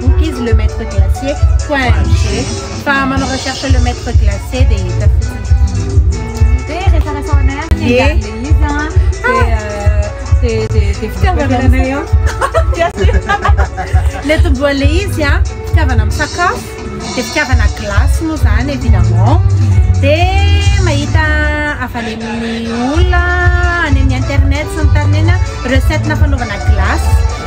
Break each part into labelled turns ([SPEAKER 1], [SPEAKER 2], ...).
[SPEAKER 1] Cookies Le Maître Glacier point ng fa manao recherche Le Maître Glacier dia hita fotsiny. Dia resaresaho anay ary ny angaran'ilay izy an. Dia dia dia dia fitiavana anay an. Ilay tombohan'ilay izy an, fitiavana amin'ny sakafo, dia fitiavana glace moa izany évidemment. Dia mahita avy any amin'ny olona, any amin'ny internet sy ny tariny eny an, recette-na fanaovana glace.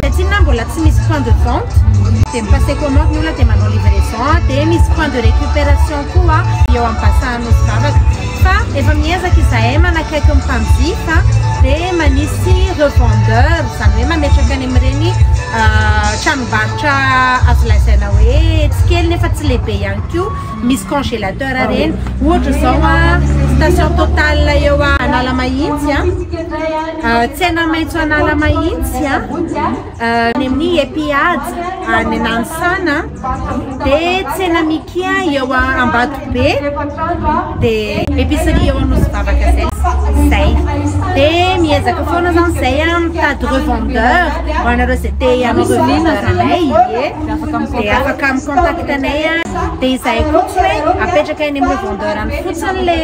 [SPEAKER 1] Dia tsinona mbola tsy misy point de vente dia mi-passer commande ny olona dia manao livraison dia misy point de récupération koa eo amin'ny Bassin Anosivavaka fa efa miezaka izahay manakaiky ny mpanjifa dia manisy revendeur izany hoe mametraka any amin'ireny tranombarotra azo lazaina hoe tsy kely nefa tsy lehibe ihany koa misy congélateur ireny ohatra izao station Total eo Analamahitsy Tsena maitso an'ala mahitsy a, any amin'ny Epiad any Nanisana, dia tsena Mikia eo Ambatobe, dia epicerie eo Anosy Vavaka izay, izay. Dia miezaka foana zany izay a mitady revendeur ho anareo izay te hanao revendeur anay ie, dia afaka mi-contact anay a, dia izay koa tsy hoe apetraka any amin'ny revendeur any fotsiny le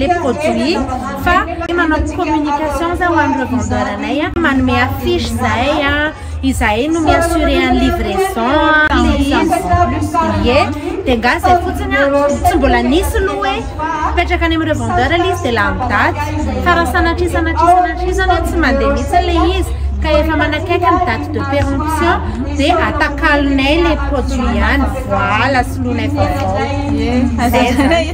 [SPEAKER 1] le produit. Fa tia manao communication za ho an'ny revendeur anay a, manome affiche zahay a, izahay no mi-assurer an'ny livraison a, le izy ie, de nga zay fotsiny a, tsy mbola nisy lo hoe mipetraka any amin'ny revendeur le izy de lany daty, fa raha sanatria sanatria sanatria zany hoe tsy mandeha mihitsy le izy ka efa manakaiky ny date de peremption de atakalonay le produit ihany, voala soloinay vaovao, zay zany.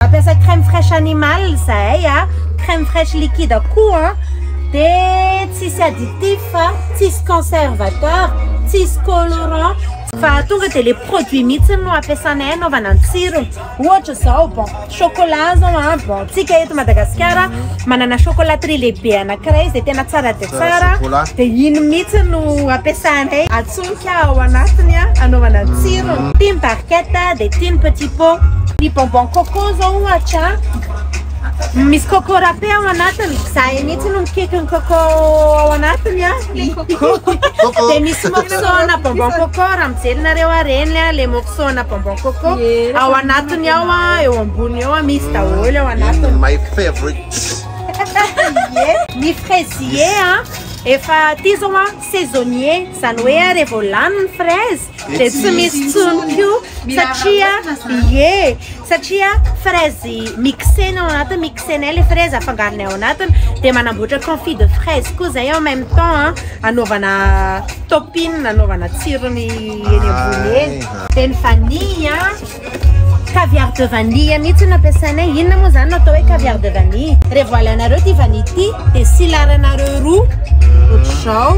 [SPEAKER 1] Mampiasa crème fraiche animal zahay a, crème fraiche liquide koa a, de tsisy additif a, tsisy conservateur, tsisy colorant, fa tonga de le produit mihitsy no ampiasanay anaovana ny tsirony, ohatra zao bon chocolat zao a, bon tsika eto Madagasikara manana chocolaterie lehibe anakiray izay tena tsara dia tsara, de iny mihitsy no ampiasanay. Tsindritsindrika ao anatiny hanaovana tsirony. Tim barquette dia tim petit pot. Ny bonbon coco zao ohatra misy coco râpé ao anatiny. Za mihitsy no mikiky ny coco ao anatiny a. Dia misy morceau ana bonbon coco raha mijery nareo ary eny a le morceau ana bonbon coco ao anatiny ao a eo ambony eo a misy daholo ao anatiny. My favorite. Ny fraisier a efa aty zao a. saisonnier izany hoe rehefa vao lany ny fraise dia tsy misy intsony koa satria ie satria fraise mixena ao anatiny mixena ilay fraise afangarony ao anatiny dia manamboatra confit de fraise koa izay en même temps an anaovana topping anaovana tsirony eny ambony eny dia ny vanille an Caviar de vanille mihitsy no ampiasainay. Inona moa izany no atao hoe caviar de vanille? Rehefa voalainareo ity vanille ity dia silaranareo roa ohatr'izao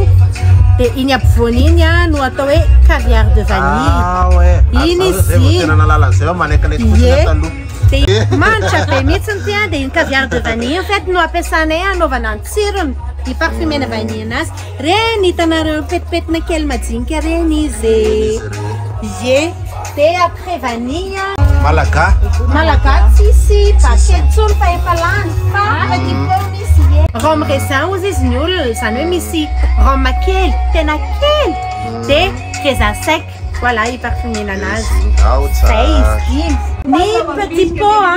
[SPEAKER 1] dia iny ampovoany iny no atao hoe caviar de vanille. Ah ouais. Ary Iny zareo zay vao izy. tena nahalala an'izay hoe manaikinaiky fotsiny Ie. ato aloha. Dia manitra be mihitsy ity an, dia iny caviar de vanille iny en fait no ampiasanay hanaovana ny tsirony, hiparfumer-na vanille-na azy. Reny hitanareo petipetina kely majinika reny izy e. Ie. De après vanille. Malaga. Malaga tsisy baguette tsony fa efa lany fa petit pot misy ie. Rhum raisin ozy izy ny olona izany hoe misy rhum kely tena kely de raisin sec voilà i parfumer-na anazy. Zay izy dimy. Ny petit pot a.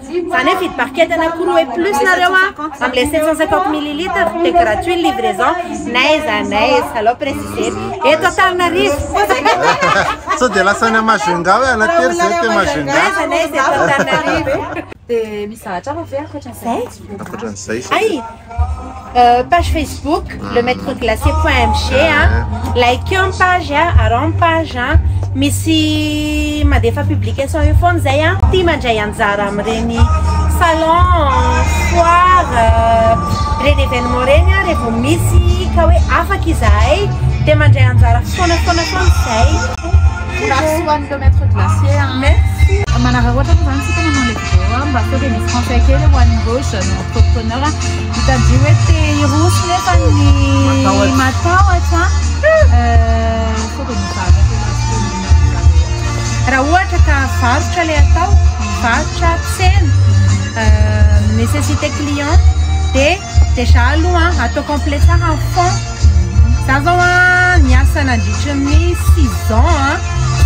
[SPEAKER 1] Zany hoe vidy barquette anaky roa et plus nareo a amle sept cent cinquante millilitres de gratuit ny livraison n'aiza n'aiza alao precisena eto Antananarivo
[SPEAKER 2] Sao dia lasa any Majunga hoe Anatery zay te Majunga N'aiza n'aiza eto Antananarivo e. Dia misy zavatra hafa ve ankoatran'izay?
[SPEAKER 1] Zay?
[SPEAKER 3] Ankoatran'izay
[SPEAKER 2] sa? Hay!
[SPEAKER 1] Page Facebook le maitre glacé point mg a, like-eo ny page a, araho ny page a, misy mandefa publication eo foana zay a, tia mandray anjara amin'ireny salon, foire, ireny événement ireny a, revo misy ka hoe afaka izahay dia mandray anjara foana foana foana izahay. Vorakosoa ho an'ny le maitre
[SPEAKER 3] glacé a. Merci.
[SPEAKER 1] Manararaotra moa zany
[SPEAKER 3] tsika manao le vidéo a mba sao dia misy conseil kely ho an'ireo jeunes. Entrepreneur mitadidy hoe te hiroso nefa ny matahotra
[SPEAKER 1] raha ohatra ka varotra ilay atao varotra tsena nécessité client dia déjà aloha atao complet tsara ny fond za zao a niasa nandritry ny six ans a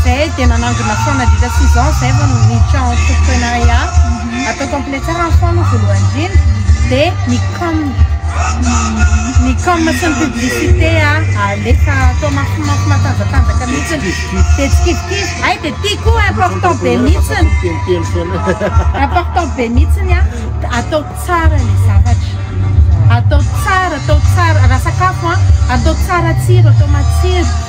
[SPEAKER 1] zay dia nanangona fond nandritra six ans zay vao niditra entreprenariat Atao complet tsara ny fo aloha voalohany indrindra dia ny com ny com sy ny publicité alefa atao mafimafy matanjatanjaka mihitsiny dia tsikidikidy hay dia ity koa important be mihitsiny important be mihitsiny a atao tsara ny zavatra atao tsara atao tsara raha sakafo a atao tsara tsiro atao matsiro